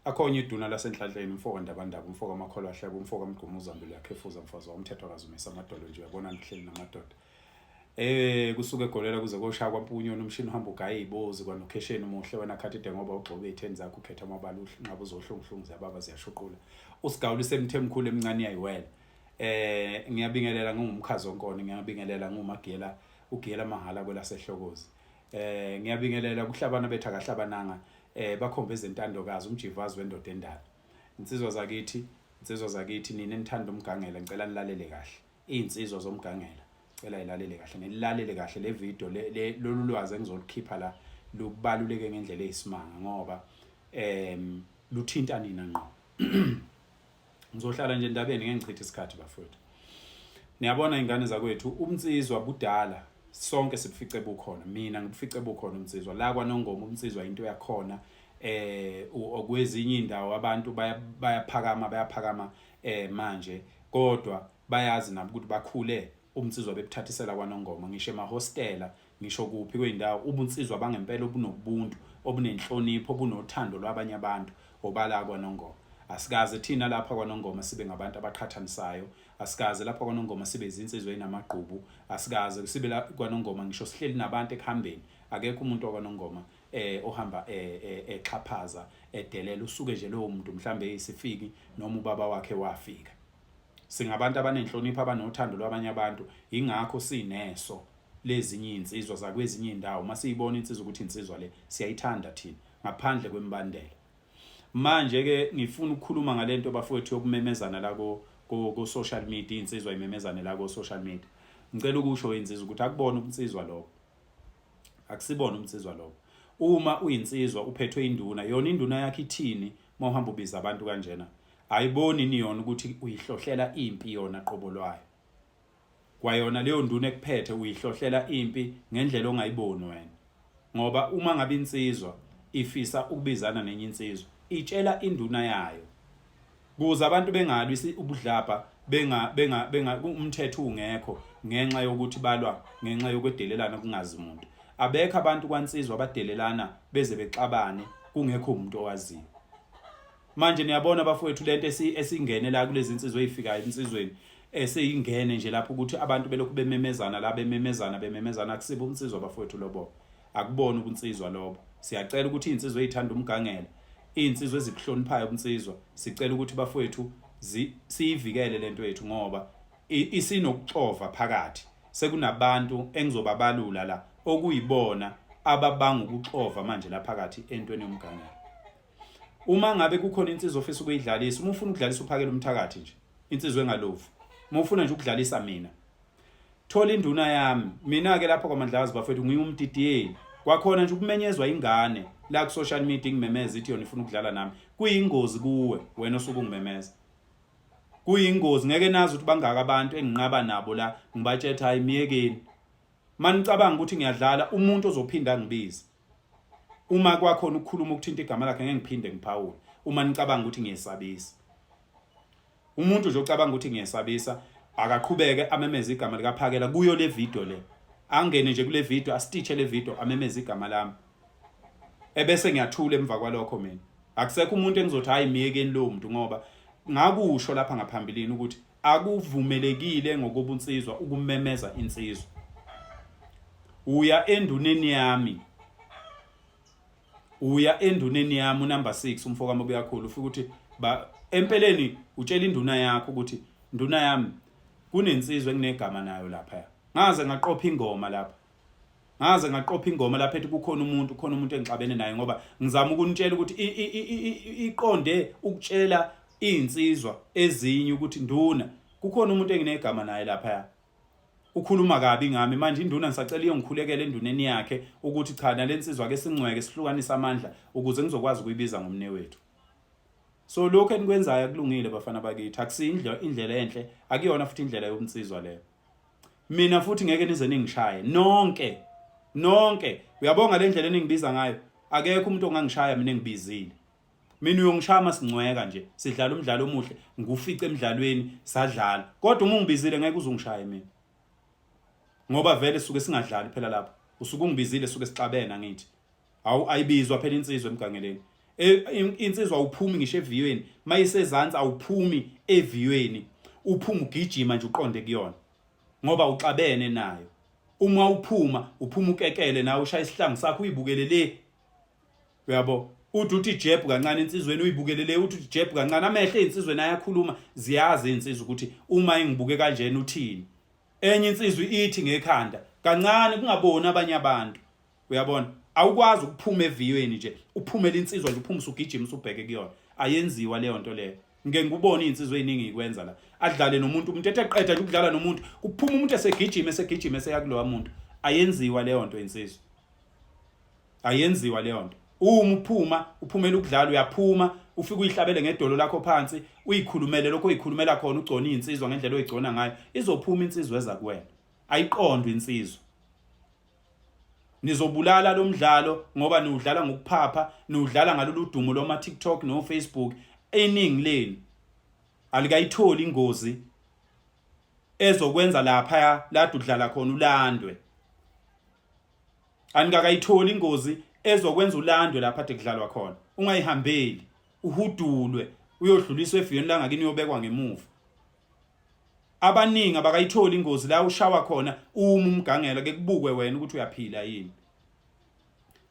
akhonye iduna lasenhlanhleni umfoka ndabandaba umfoka amakholwa ahleba umfoka amgquma uzambile yakhefuza mfazi wamthetho akazumisa amadolo nje uyabona ngihleli namadoda eh kusuke egolela kuze koshaya kwampunyoni umshini uhamba ugaye ibozi kwanokhesheni umuhle wena khathi de ngoba ugxobe itheni zakho ukhetha amabala unqaba uzohlunguhlungu ziyababa ziyashuqula usigawula isemthe emkhulu emncane yayiwela Eh ngiyabingelela ngingumkhazo onkoni ngiyabingelela ngumagela ugela mahala kwelaseHlokozi. Eh ngiyabingelela kuhlabana betha kahlabananga eh bakhombe izintandokazi umjivazi wendoda endala. Insizwa zakithi, insizwa zakithi nina enithanda umgangela ngicela nilalele kahle. Izinsizwa zomgangela cela ilalele kahle ngilalele kahle le video le lolu lwazi engizolikhipha la lubaluleke ngendlela eyisimanga ngoba em luthinta nina ngqo ngizohlala nje endabeni ngeke ngichithe isikhathi bafowethu niyabona ingane zakwethu umnsizwa budala sonke sibufice bukhona mina ngibufice bukhona umnsizwa la kwanongoma umnsizwa into yakhona eh okwezinye indawo abantu bayaphakama bayaphakama eh manje kodwa bayazi nabo ukuthi bakhule umnsizwa bebuthathisela kwanongoma ngisho emahostela Ngisho kuphi kwey'ndawo ubunsizwa bangempela obunobuntu, obunenhlonipho, obunothando lwabanye abantu obala kwaNongoma. Asikaze thina lapha kwaNongoma sibe ngabantu abaqhathanisayo, asikaze lapha kwaNongoma sibe izinsizwa ezinamagqubu, asikaze sibe la kwaNongoma ngisho sihleli nabantu ekuhambeni, akekho umuntu wakwaNongoma eh ohamba eh, eh, exhaphaza edelela usuke nje lowo muntu mhlambe eyisifiki noma ubaba wakhe wafika. Singabantu abanenhlonipho abanothando lwabanye abantu, ingakho sineso lezinye izinsizwa zakwezinye indawo mase ibona insizwa ukuthi insizwa le siyayithanda thina ngaphandle kwembandela manje ke ngifuna ukukhuluma ngalento bafowethu yokumemezana la ko ko social media insizwa imemezane la ko social media ngicela ukusho insizwa ukuthi akubona umnsizwa lokho akusibona umnsizwa lokho uma uyinsizwa uphethwe induna yona induna yakhe ithini uma uhamba ubiza abantu kanjena ayiboni niyona ukuthi uyihlohlela impi yona qobo lwayo kwayona leyo nduna ekuphethe uyihlohlela impi ngendlela ongayiboni wena ngoba uma ngabe insizwa ifisa ukubizana nenye insizwa itshela induna yayo kuze abantu bengalwi ubudlabha benga benga benga umthetho ungekho ngenxa yokuthi balwa ngenxa yokwedelelana kungazi umuntu abekho abantu kwansizwa abadelelana beze bexabane kungekho umuntu owaziyo manje niyabona bafowethu lento esingene la kulezi insizwe eyifikayo insizweni eseyingene nje lapho ukuthi abantu belokhu bememezana la bememezana bememezana akusibo unsizwa bafowethu lobo akubona ubunsizwa lobo siyacela ukuthi insizwe ezithanda umgangela insizwe ezibuhloniphayo ubunsizwa sicela ukuthi bafowethu siyivikele lento yethu ngoba isinokuxova phakathi sekunabantu engizobabalula la okuyibona ababanga ukuxova manje la phakathi entweni yomgangela uma ngabe kukhona insizwa ofisa ukuyidlalisa uma ufuna ukudlalisa uphakela umthakathi nje insizwa engalovu uma ufuna nje ukudlalisa mina thola induna yami mina ke lapho kwamandlazi bafethu ngiyumdidiyeli kwakhona nje ukumenyezwa ingane la ku social media ngimemeza ithi yona ifuna ukudlala nami kuyingozi kuwe wena osuke ungimemeza kuyingozi ngeke nazi ukuthi bangaka abantu enginqaba nabo la ngibatshetha hayi myekeni manicabanga ukuthi ngiyadlala umuntu ozophinda ngibize uma kwakhona ukukhuluma ukuthinta igama lakhe ngeke ngiphinde ngiphawule uma nicabanga ukuthi ngiyesabisa umuntu nje ocabanga ukuthi ngiyesabisa akaqhubeke amemeze igama likaphakela kuyo le video le angene nje kule video asititshe le video amemeze igama lami ebese ngiyathula emva kwalokho mina akusekho umuntu engizothi hayi myekeni lo muntu ngoba ngakusho lapha ngaphambilini ukuthi akuvumelekile ngokobunsizwa ukumemeza insizwa uya enduneni yami uya enduneni yami unumber 6 umfoka mobe kakhulu ufika ukuthi ba empeleni utshela induna yakho ukuthi nduna yami kunensizwe kunegama nayo lapha ngaze ngaqopha ingoma lapha ngaze ngaqopha ingoma lapha ethi kukhona umuntu khona umuntu engixabene naye ngoba ngizama ukunitshela ukuthi iqonde ukutshela izinsizwa ezinye ukuthi nduna kukhona umuntu enginegama naye lapha ya ukhuluma kabi ngami manje induna ngisacela iyongikhulekela enduneni yakhe ukuthi cha nalensizwa ke singcweke sihlukanisa amandla ukuze ngizokwazi ukuyibiza ngomne wethu so lokho enikwenzayo akulungile bafana bakithi akusiyindlela indlela enhle akuyona futhi indlela yobunsizwa leyo mina futhi ngeke nize ningishaye nonke nonke uyabonga le ndlela eningibiza ngayo akekho umuntu ongangishaya mina ngibizile mina uyongishaya masingcweka nje sidlala umdlalo omuhle ngufice emidlalweni sadlala kodwa uma ungibizile ngeke uzungishaye mina ngoba vele suke singadlali phela lapho usuke ungibizile suke sixabene ngithi Hawu ayibizwa phela insizwa emgangeleni. E, insizwa awuphumi ngisho eviyweni, mayisezansi awuphumi eviyweni. Uphuma ugijima nje uqonde kuyona. Ngoba uxabene nayo. Uma uphuma, uphuma ukekele nawe ushaya isihlangu sakho uyibukele le. Uyabo? Uthi uthi jeb kancane insizweni uyibukele le uthi jeb kancane amehlo ezinsizweni ayakhuluma ziyazi insizwa ukuthi uma engibuke kanjena uthini. Enye insizwa ithi ngekhanda kancane kungaboni abanye abantu. uyabona awukwazi ukuphuma eviyweni nje uphumele insizwa nje uphume usugijima usubheke kuyona ayenziwa leyo nto leyo ngike ngikubone izinsizwa eziningi ikwenza la adlale nomuntu umuntu ethe qeda nje ukudlala nomuntu kuphuma umuntu esegijima esegijima eseyakulowa muntu ayenziwa leyo nto insizwa ayenziwa leyo nto uma uphuma uphumela ukudlala uyaphuma ufike uyihlabele ngedolo lakho phansi uyikhulumele lokho uyikhulumela khona ugcona izinsizwa ngendlela oyigcona ngayo izophuma insizwa eza kuwena ayiqondwe insizwa Nizobulala lo mdlalo ngoba niwudlala ngokuphapha, niwudlala ngalolu dumo loma TikTok no Facebook. Iningi lenu alikayitholi ingozi ezokwenza lapha ladu udlala khona ulandwe. Anikakayitholi ingozi ezokwenza ulandwe lapha de kudlalwa khona. Ungayihambeli, uhudulwe, uyodluliswa efiyweni langakini uyobekwa ngemuva. abaningi abakayitholi ingozi la ushawa khona uma umgangela ke kubukwe wena ukuthi uyaphila yini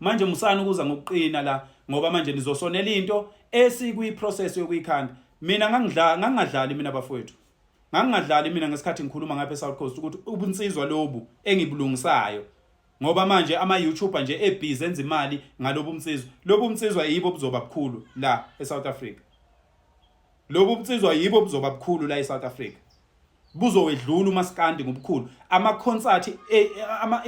manje musani ukuza ngokuqina la ngoba manje nizosonela into esikwi process yokuyikhanda mina ngangidla ngangadlali mina bafowethu ngangingadlali mina ngesikhathi ngikhuluma ngapha eSouth Coast ukuthi ubunsizwa lobu engibulungisayo ngoba manje ama YouTuber nje ebhizi enza imali ngalobu mnsizwa lobu mnsizwa yibo buzoba bukhulu la eSouth Africa Lobu bunsizwa yibo buzoba bukhulu la eSouth Africa. Buzowedlula umaskandi ngobukhulu. Ama concert e, ama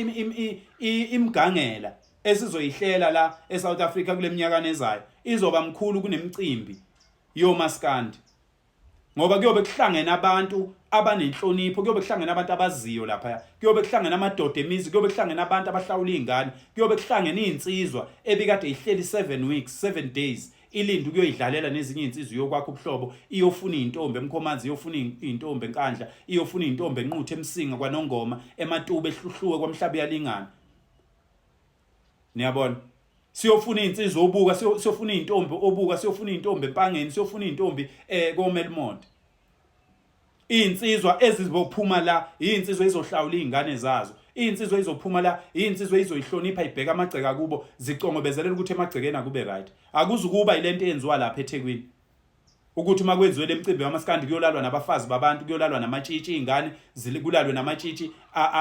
imgangela esizoyihlela la eSouth Africa kuleminyaka nezayo izoba mkhulu kunemicimbi yomaskandi. Ngoba kuyobe kuhlangene abantu abanenhlonipho kuyobe kuhlangene abantu abaziyo lapha kuyobe kuhlangene amadoda emizi kuyobe kuhlangene abantu abahlawula izingane kuyobe kuhlangene izinsizwa ebikade ihleli 7 weeks 7 days ilinde ukuyoyidlalela nezinye izinsizwa iyokwakha ubuhlobo iyofuna izintombi emkhomanzi iyofuna izintombi enkandla iyofuna izintombi enquthu emsinga kwanongoma ematuba ehluhluwe kwamhlaba yalingana niyabona siyofuna izinsizwa obuka siyofuna izintombi obuka siyofuna izintombi empangeni siyofuna izintombi eh komelmonde Izinsizwa ezizophuma la izinsizwa izohlawula izingane zazo. Izinsizwa izophuma la izinsizwa izoyihlonipha ibheka amagceka kubo zicongobezelela ukuthi emagcekeni akube right. Akuzukuba ilento eyenziwa lapha eThekwini. Ukuthi uma kwenziwe lemcimbi yamaskandi kuyolalwa nabafazi babantu kuyolalwa namatshitshi izingane zilikulalwe namatshitshi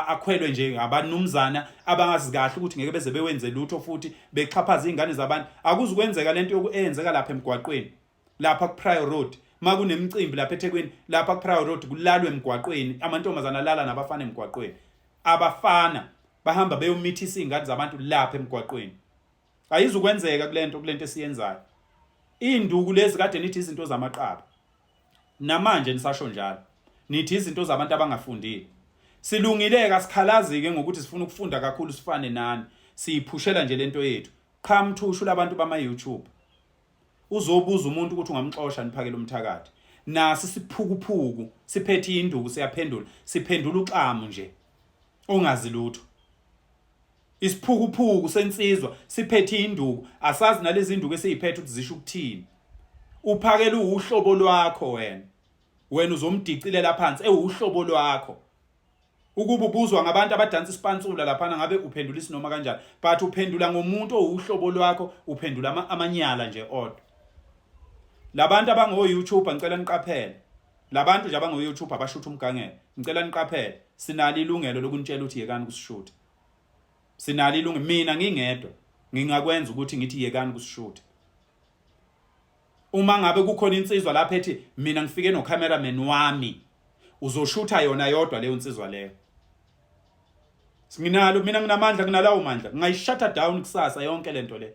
akhwelwe nje abanumzana abangazi kahle ukuthi ngeke beze bewenze lutho futhi bexhaphaza izingane zabantu. Akuzukwenzeka lento yokuyenzeka lapha emgwaqweni. lapha kuPrior Road makunemicimbi lapha eThekwini lapha kuPrior Road kulalwe emgwaqweni amantombazana alala nabafana emgwaqweni abafana bahamba beyomithisa izingane zabantu lapha emgwaqweni ayizukwenzeka kulento kulento esiyenzayo induku lezi kade nithi izinto zamaqaba namanje nisasho njalo nithi izinto zabantu abangafundile silungile kasikhalazi ke ngokuthi sifuna ukufunda kakhulu sifane nani siyiphushela nje lento yethu qhamthushu labantu bama YouTube uzobuza umuntu ukuthi ungamxosha niphakele umthakathi nasi siphukuphuku siphethe induku siyaphendula siphendula uxamu nje ongazi lutho isiphukuphuku sensizwa siphethe induku asazi nalezi induku esiziphethe ukuthi zisho ukuthini uphakela uhlobo lwakho wena wena uzomdicilela phansi ewuhlobo lwakho Ukuba ubuzwa ngabantu abadansa isipansula laphana ngabe uphendula isinoma kanjani but uphendula ngomuntu owuhlobo lwakho uphendula ama, amanyala nje odwa labantu abango YouTuber ngicela niqaphele labantu nje abango YouTuber abashutha umgangelo ngicela niqaphele sinalo ilungelo lokunitshela ukuthi yekani kusishutha sinalo ilungelo mina ngingedwa ngingakwenza ukuthi ngithi yekani kusishutha uma ngabe kukhona insizwa lapha ethi mina ngifike no cameraman wami uzoshutha yona yodwa leyo insizwa leyo singinalo mina nginamandla kunalawo mandla ngayishata down kusasa yonke lento le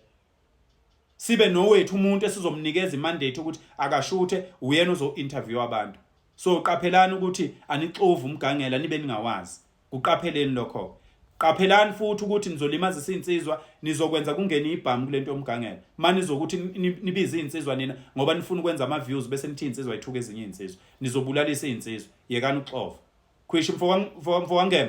sibe nowethu umuntu esizomnikeza imandate ukuthi akashuthe uyena uzo interview abantu so qaphelani ukuthi anixovu umgangela nibe ningawazi Kuqapheleni lokho-ke. Qaphelani futhi ukuthi nizolimazisa iy'nsizwa, nizokwenza kungene ibhamu kule nto yomgangela. Uma nizokuthi nibize iy'nsizwa nina ngoba nifuna ukwenza ama-views bese nithi iy'nsizwa yithuka ezinye iy'nsizwa. Nizobulalisa iy'nsizwa. Yekani ukuxova. Khwishi mfowangema.